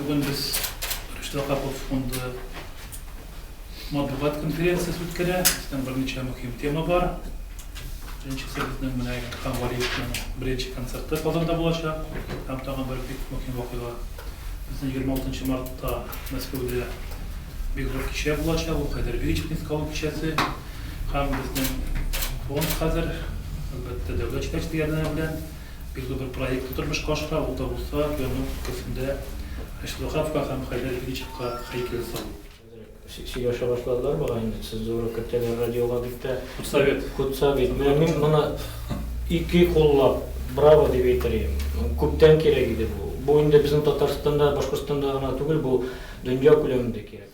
Бүген без Рөстәм Хаков фонды матбугат конференциясе үткәрә. Бездән берничә мөһим тема бар. Беренчесе безнең менә Илһам Валиевның беренче концерты Казанда булачак. Һәм тагын бер бик мөһим вакыйга. Безнең 26 мартта Мәскәүдә бик зур кичә булачак. Ул Хәйдәр Вечерниц калу кичәсе. Һәм безнең фонд хәзер, әлбәттә, дәүләт җитәкчелеге ярдәме белән Юлы бер проектны тормышка ашыра, ул да булса, Янук өлкәсендә Айсылуховка һәм Хәйдәр Ильичевка һәйкәл салу. Хәзер сөйләшә башладылар бугай инде, цензура кертәләр радиога бик тә. Худсовет. Худсовет. Менә мин моны ике куллап браво дип әйтер идем. Күптән кирәк иде бу. Бу инде безнең Татарстанда, Башкортстанда гына түгел, бу дөнья күләмендә кирәк.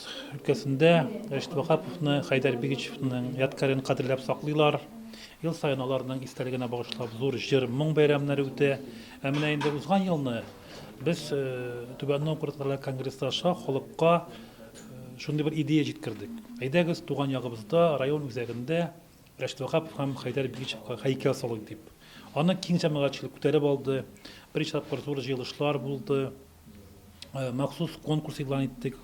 Ноябрьск өлкәсендә Рәшит Ваһаповны, Хәйдәр Бигичевның ядкарен кадерләп саклыйлар. Ел саен аларның истәлегенә багышлап зур җыр-моң бәйрәмнәре үтә. Ә менә инде узган елны без Түбән Новгород район конгрессы аша халыкка шундый бер идея җиткердек. Әйдәгез, туган ягыбызда, район үзәгендә Рәшит Ваһапов һәм Хәйдәр Бигичевка һәйкәл салыйк дип. Аны киң җәмәгатьчелек күтәреп алды, берничә тапкыр зур җыелышлар булды. махсус конкурс игълан иттек,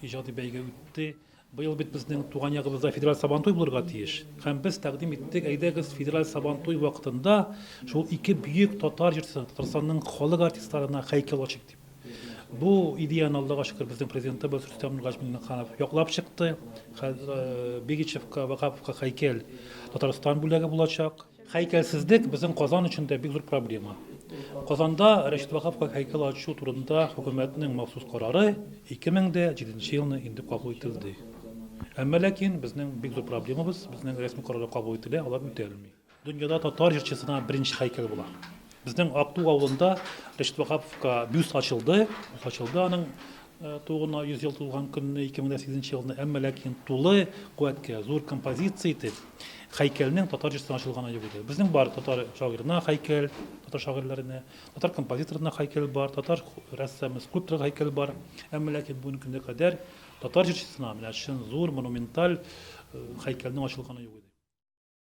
иҗади бәйге үтте. Быел бит безнең туган ягыбызда федераль Сабантуй булырга тиеш. Һәм без тәкъдим иттек, әйдәгез, федераль Сабантуй вакытында шул ике бөек татар җырчысына, Татарстанның халык артистларына һәйкәл ачыйк дип. Бу идеяны Аллага шөкер безнең президентыбыз Рөстәм Нургаҗ Миңнеханов яклап чыкты. Хәзер Бигичевка, Вагаповка һәйкәл Татарстан бүләге булачак. Һәйкәлсезлек безнең Казан өчен дә бик зур проблема. Казанда Рәшит Ваһаповка һәйкәл ачу турында хөкүмәтнең махсус карары 2007 елны инде кабул ителде. Әмма ләкин безнең бик зур проблемабыз, безнең рәсми карарлар кабул ителә, алар үтәлми. Дөньяда татар җырчысына беренче һәйкәл була. Безнең Актү авылында Рәшит Ваһаповка бюст ачылды. Бюст ачылды аның тууына 100 ел тулган көнне 2008 елны, әмма ләкин тулы куәткә зур композиция итеп хәйкәлнең татар җырсына ачылганы юк иде. Безнең бар татар шагыйрына хәйкәл, татар шагыйрьләренә, татар композиторына хәйкәл бар, татар рәссамы, скульптор хәйкәл бар. Әмма ләкин бүгенге көнгә кадәр татар җырчысына менә чын зур монументаль хәйкәлнең ачылганы юк иде.